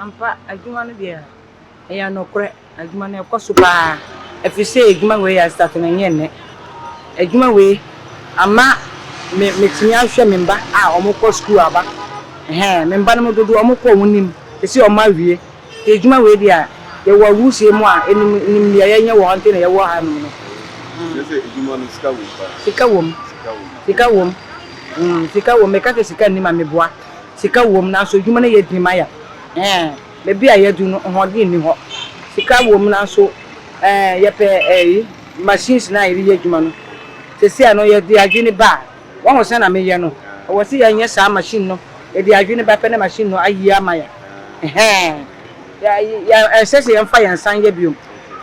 Ampa, adwuma no deɛ ɛyɛ nokorɛ, adwuma no ɛkɔ so pa ara, ɛfiri sɛ adwuma wei yɛ asitaato no ɛnyɛ nnɛ, adwuma wei ama me matumi ahwɛ me mma a wɔkɔ sukuu aba, ɛhɛɛ, me mma no mu dodoɔ wɔkɔ wɔn anim, seisei wɔawie, nti adwuma wei deɛ yɛwɔ awusie mu a ɛnim nim deɛ yɛnyɛ wɔ ha nti na yɛwɔ ha nom no. Kyerɛ sɛ adwuma no sika wɔ mu paa. Sika wɔ mu, sika wɔ mu, sika wɔ mu, meka sɛ sika nnim a meboa. Sika wom nanso adwuma no yɛ den ma yɛn. Ɛɛn, baabi a yɛadu no, ahoɔden nni hɔ. Sika wom nanso ɛɛn, yɛpɛ ɛyi, machines no a yɛde yɛ adwuma no. Seesei no, yɛde adwene ba a, woahu sɛnea meyɛ no, ɛwɔ sɛ yɛnyɛ saa machine no. Yɛde adwene ba pɛ na machine no ayie ama yɛn. Ɛhɛɛn, yɛ, yɛ, ɛnsɛ sɛ yɛmfa yɛn nsa nyɛ bio.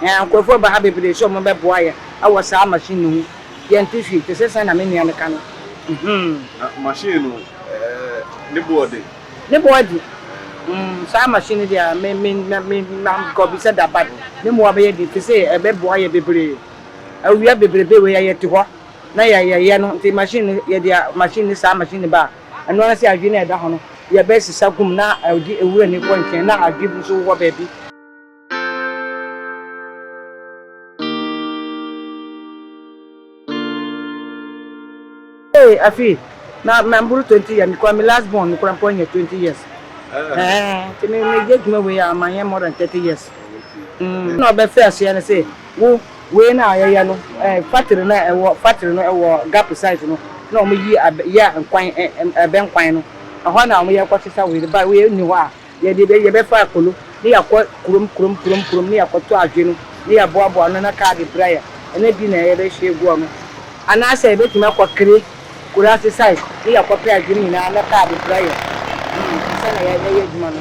Ɛɛn, nkurɔfoɔ ba ha bebree sɛ wɔbɛboa yɛn wɔ saa machine no ho. Yɛnte hwee, te sɛ sɛn na me nua no ka no. Mhmm. Na machine no, eh, ne boɔ de? Ne boɔ de? Mmm, saa machine no deɛ, me, me, me, me, mankɔbisa da, but ne boɔ bɛyɛ den, te sɛ ɛbɛboa yɛ bebree. Awia bebrebe wei a, yɛte hɔ na yɛ, yɛyɛ no, nti machine no, yɛde a, machine no, saa machine no ba a, ɛno ara sɛ adwe no a ɛda hɔ no, yɛbɛsesa gu mu na ɛde awura no kɔ nkyɛn, na adwe bi nso wɔ baabi. Hey, afi na na mburu twenty years because my last born kura mpɔ nyɛ twenty years ɛɛ ti mi mi yɛ adwuma wei a ma yɛ more than thirty years mm. na ɔbɛ fɛ aseɛ no sɛ wo wei na yɛyɛ no ɛɛ factory na ɛwɔ factory no ɛwɔ gap site no na wɔn yi yɛ nkwan ɛbɛ nkwan no ɛhɔ na wɔn yɛ kɔ sisa wei ba wei ni hɔ a. Yɛde bɛ yɛbɛfa akolo ne yɛakɔ kurom kurom kurom kurom ne yɛakɔtɔ adwe no ne yɛaboaboa ano na kaa de bra yɛ ɛna di na yɛbɛhye agu ano. Anaasɛ yɛbɛtumi akɔ Kere, Kurase side ne yɛakɔpɛ adwe no nyinaa na kaa de bra yɛ ansa na yɛayɛ adwuma no.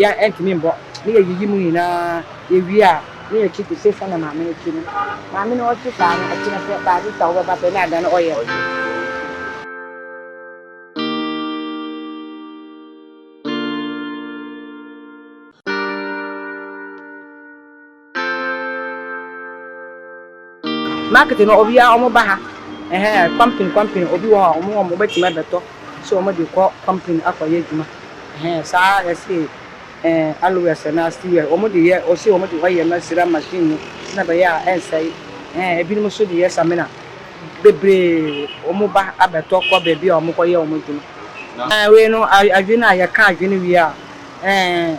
Yɛ ɛntumi mbɔ ne yɛ yiyi mu nyinaa yɛ wie a ne yɛ kyi tesɛ sɛnea maame no kyi no. Maame no ɔkyi saa no ɛkyerɛ sɛ baa bi ta wo bɛba pɛ ne ada no ɔyɛ no. Market no obiara wɔn ba ha ɛhɛn company company obi wɔ hɔ a wɔn wɔn bɛtumi abɛtɔ so wɔn de kɔ company akɔ yɛ adwuma ɛhɛn saa ɛsi ɛɛ alowɛs anaa stiwɛl wɔn de yɛ ɔsi wɔn de ɔyɛ no asira machine no sɛnɛ ɛbɛyɛ a ɛnsɛe ɛhɛn ebinom nso de yɛ samina bebree wɔn ba abɛtɔ kɔ beebi a wɔn kɔ yɛ wɔn adwuma ɛɛ wei no adwene a yɛka adwene wie a ɛɛ.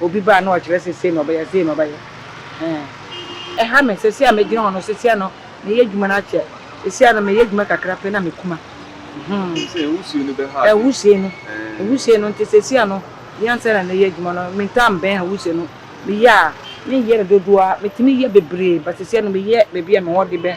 Obi ba a na ɔkyerɛ sɛ sei na ɔbɛyɛ, sei na ɔbɛyɛ. Ɛɛh, ɛha me. Seesei a megyina hɔ no, seesei no meyɛ adwuma no akyɛ. Seesei a no meyɛ adwuma kakra pɛ na mekuma. Hmmm. Ɛne sɛ nwusie no bɛha ade. Nwusie no. Ɛɛh. Nwusie no nti seesei a no, yɛ ansa na meyɛ adwuma no, mentaa mbɛn nwusie no. Meyɛ a, menyɛ no dodoɔ ara. Metumi yɛ bebree but seesei no meyɛ baabi a me ho ɔde bɛ.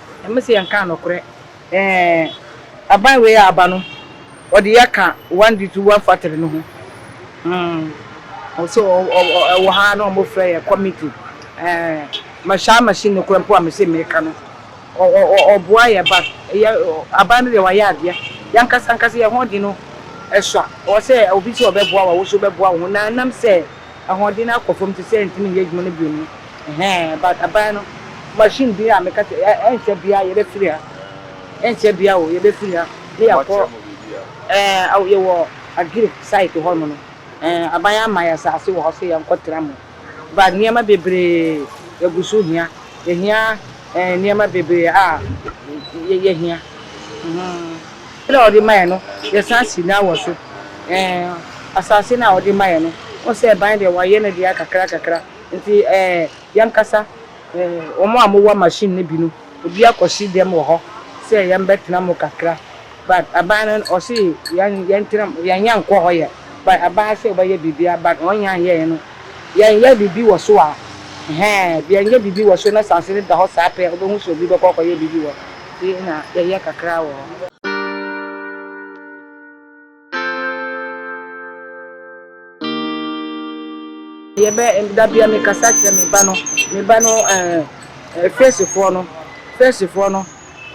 Ɛmɛ sɛ yɛn kaa nɔkorɛ ɛɛ aban wei a aba no ɔde yɛ ka one di two one factory no ho hmm ɔsɛ ɔ ɔ ɔ ɛwɔ ha na ɔmo frɛ yɛ committee ɛɛ ma saa machine no korɛ mpo a mese meka no ɔ ɔ ɔ ɔboa yɛ ba yɛ aban no deɛ wayɛ adeɛ yɛn ankasa ankasa yɛn ho de no ɛsua ɔsɛ obi sɛ ɔbɛboa wo a woso bɛboa wo ho na ɛnam sɛ Ahoɔden no akɔ fam te sɛ ntumi nyɛ adwuma no bio no ɛhɛɛ but aban no machine bi a meka sɛ ɛ ɛnkyɛ biara yɛbɛfiri ha ɛnkyɛ biara o yɛbɛfiri ha na yɛakɔ ɛɛ awo yɛwɔ Agiri site hɔ nom no ɛɛ aban ama yɛn asaase wɔ hɔ sɛ yɛnkɔ tra mu but nneɛma bebree yɛgu so hia yɛhia ɛɛ nneɛma bebree a yɛ yɛhia. Ade a ɔde ma yɛn no, yɛsan si no ara wɔ so. Ɛɛ, asase no a ɔde ma yɛn no, wohu sɛ ban deɛ wɔayɛ no dua kakrakakra. Nti ɛɛ, yɛnkasa, ɛɛ, wɔn a mowɔ machine no bi no, obi akɔhye dɛm wɔ hɔ sɛ yɛmbɛtena mu kakra. But aban no, ɔse yɛn, yɛntena mu, yɛnyɛ nkɔ hɔ yɛ. But aban ase ɔbɛyɛ biribiara, but wɔn nyɛ anyɛɛ no. Yɛnyɛ biribi wɔ so a, ɛhɛɛ, yɛnyɛ biribi wɔ so na asase no da hɔ saa pɛ a, wobɛhu sɛ obi bɛkɔ akɔyɛ biribi wɔ. bi na yɛyɛ kakra wɔ hɔ. Yɛbɛ da bia me kasa kyerɛ me ba no, me ba no ɛɛ fɛsifoɔ no, fɛsifoɔ no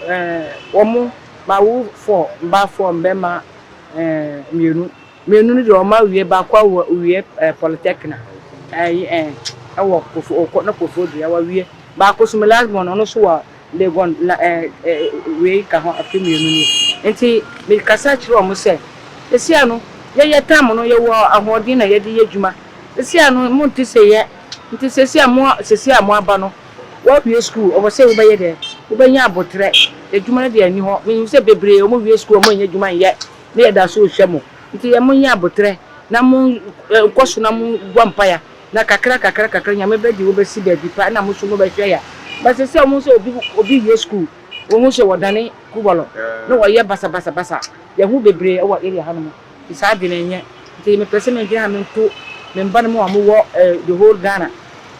ɛɛ wɔn ma wo four, mmaa four, mmarima ɛɛ mmienu, mmienu no deɛ wɔn awie baako awo awie ɛɛ polytechnic ɛɛ ɛɛ ɛwɔ kofo ɔkɔ ne kofo dua wawie baako so me last born no ɔno nso wa. Legon, na ɛ, ɛ, wei ka ho afe mmienu ni. Enti mekasa kyerɛɛ wɔn sɛ, Seesei ano, yɛ, yɛtan no, yɛwɔ ahoɔden na yɛde yɛ adwuma. Seesei ano, monte sɛ yɛ. Enti seesei a mo, seesei a moaba no, woawie sukuu, ɛwɔ sɛ wobɛyɛ dɛ? Wobɛnya aboterɛ. Adwuma no deɛ ɛnni hɔ. Menim sɛ bebree, wɔwie sukuu a, wɔnnya adwuma nyɛ, na yɛda so rehwɛ mo. Enti yɛ, monyɛ aboterɛ, na mon, ɛ, nkɔ so na mommɔ mpaeɛ. Na kakra kakra kakra Nyame bɛde wo bɛsi baabi pa ɛna mo nso mo bɛhwɛ ya. But sɛsɛ ɔmo hu sɛ obi obi wie school wo hu sɛ wɔdane kubɔlɔ na wɔyɛ basa basa basa yɛ hu bebree ɛwɔ area ha nom nti saa adwene ɛnyɛ nti me pɛsɛ me dwene ha me nto me mba no mo a ɔmo wɔ the whole Ghana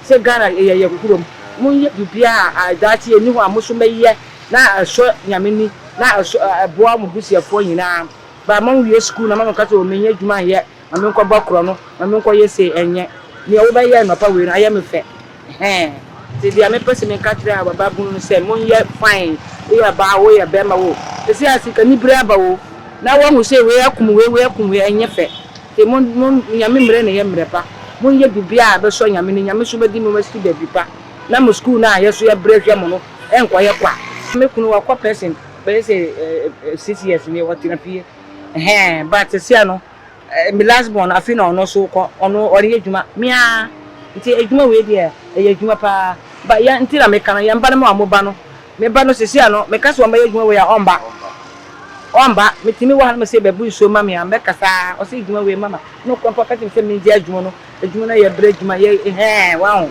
sɛ Ghana yɛ yɛ kurom mo nyɛ biribiaa a daakye ɛni hɔ a mo nso mɛ yɛ na ɛsɔ Nyame ni na ɛsɔ ɛboa mo busuafoɔ nyinaa but ma mo wie school na ma mo ka sɛ o me nyɛ adwuma nyɛ. ma menkɔbɔ korɔ no, ma menkɔyɛ sei, ɛnyɛ, deɛ wobɛyɛ anɔpa wei no ayɛ me fɛ, ɛhɛɛ, nti deɛ mepɛ sɛ meka kyerɛ a bababunu no sɛ, monyɛ fine, woyɛ ɔbaa oo, woyɛ barima oo, seesei a sikanibere aba oo, na woahu sɛ wei akum wei, wei akum wei, ɛnyɛ fɛ, nti mo, mo, Nyame mmerɛ na ɛyɛ mmerɛ pa, monyɛ biribiara a ɛbɛsɔ Nyame ani, Nyame nso bɛde mo asi baabi pa, na mo sukuu no a yɛ nso yɛbrɛ hwɛ mo no nkɔyɛ kwa. Me kunu wakɔ pɛsen bɛyɛ sɛ six years nie, ɔtena fie, ɛhɛɛ, but seesei ano me last born afei na ɔno nso kɔ ɔno ɔreyɛ adwuma me ara nti adwuma wei deɛ ɛyɛ adwuma paa ba yɛn nti na meka no yɛn ba no ma wɔn ba no me ba no sisi a no meka sɛ wɔn bɛyɛ adwuma wei a ɔmba ɔmba metumi wɔ ha no mesɛ bɛbu nsuo ma me a mɛkasa ɔsɛ adwuma wei mama na ɔkura mpo ɔka kyerɛ me sɛ mengye adwuma no adwuma no yɛ brɛ adwuma yɛ hɛɛ waho.